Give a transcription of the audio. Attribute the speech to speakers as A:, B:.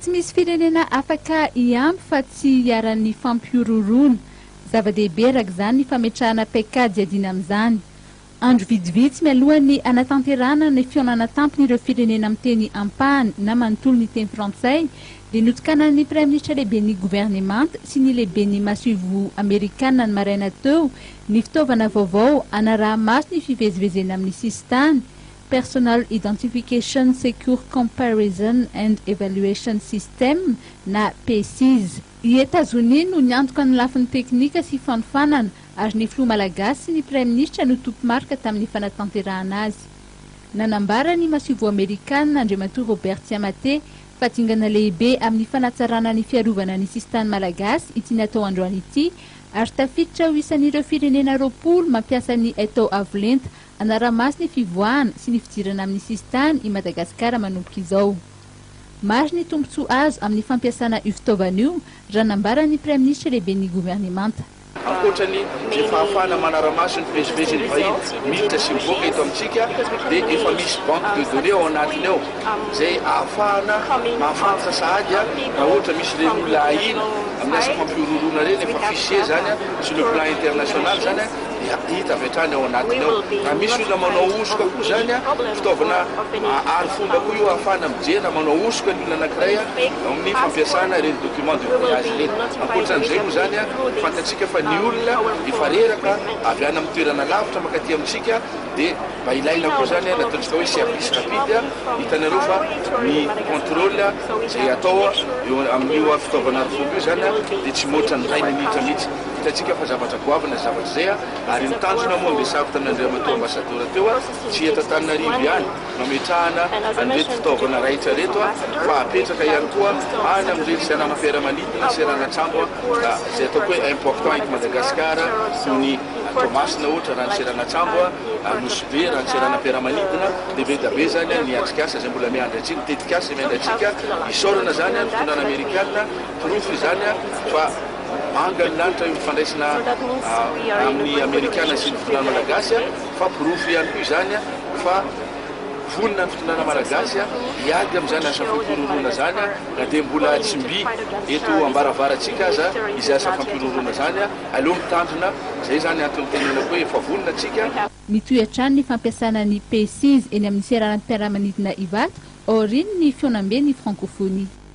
A: Tsy misy firenena afaka hiampy fa tsy hiharan'ny fampihorohoroana. Zava-dehibe araka izany ny fametrahana paikady hiadiana amin'izany. Andro vitsivitsy mialohan'ny hanatanterahana ny fihaonana tampin'ireo firenena miteny ampahany na manontolo ny teny frantsay dia notokanan'ny Praiminisitra Lehiben'ny Governemanta sy ny Lehiben'ny Masoivoho Amerikana ny maraina teo ny fitaovana vaovao hanaraha-maso ny fivezivezena amin'ny sisintany Personal Identification Secure Comparison and Evaluation System, na PESIS. I Etazonia no niantoka ny lafiny teknika sy fanofanana, ary ny filoha malagasy sy ny praiminisitra no tompo-marika tamin'ny fanatanterahana azy. Nanambara ny masoivoho amerikana, Andriamatoa Robert Tsiamate, fa dingana lehibe amin'ny fanatsarana ny fiarovana ny sisintany malagasy ity natao androany ity, ary tafiditra ho isan'ireo firenena roapolo mampiasa ny Etao Avo Lenta Hanara-maso ny fivoahana sy ny fidirana amin'ny sisintany i Madagasikara manomboka izao. Maro ny tombontsoa azo amin'ny fampiasana io fitaovana io, raha nambaran'ny Praiminisitra Lehiben'ny Governemanta. Ankoatra ny
B: izay fahafahana manara-maso ny fivezivezen'ny vahiny miditra sy mivoaka eto amintsika dia efa misy banque de données ao anatiny ao izay ahafahana mahafantatra sahady raha ohatra misy ireny olona ahiana amin'ny asa fampihorohoroana ireny fa fichier izany sur le plan international izany. dia hita avy hatrany ao anatiny ao. Raha misy olona manao hosoka koa izany, fitaovana arifomba koa io ahafahana mijery raha manao hosoka ny olona anankiray eo amin'ny fampiasana ireny document de voyage ireny. Ankoatran'izay moa izany, fantatsika fa ny olona efa reraka avy any amin'ny toerana lavitra mankaty amintsika dia mba ilaina koa izany ny ataontsika hoe service rapide. Hitanareo fa ny contrôle izay atao eo amin'io fitaovana arifomba io izany dia tsy mihoatra ny iray minitra mihitsy. Hitantsika fa zavatra goavana izay zavatra izay ary ny tanjona moa ange sarotra an'Andriamatoa Ambassadeur teo tsy eto Antananarivo ihany no ametrahana an'ireto fitaovana raitra ireto fa apetraka ihany koa any amin'ireny seranam-piaramanidina, seranan-tsambo izay ataoko hoe important eto Madagascar toy ny Toamasina ohatra raha ny seranan-tsambo, Anosibe raha ny seranam-piaramanidina dia be dia be izany ny atrikasa izay mbola miandry antsika, ny tetikasa izay miandry antsika. Isaorana izany ny fitondrana Amerikana, porofo izany fa. Manga ny lanitra eo amin'ny fandraisana amin'ny Amerikana sy ny fitondrana Malagasy fa porofo ihany koa izany fa vonona ny fitondrana Malagasy hiady amin'izany asa fampihorohoroana izany na dia mbola tsy mby eto ambaravarantsika aza izay asa fampihorohoroana izany. Aleo mitandrina, izay izany antony itenenako hoe efa vonona tsika. Mitohy hatrany
A: ny fampiasana ny PCs eny amin'ny seranam-piaramanidina Ivato aorian'ny fihaonamben'ny Frankofonia.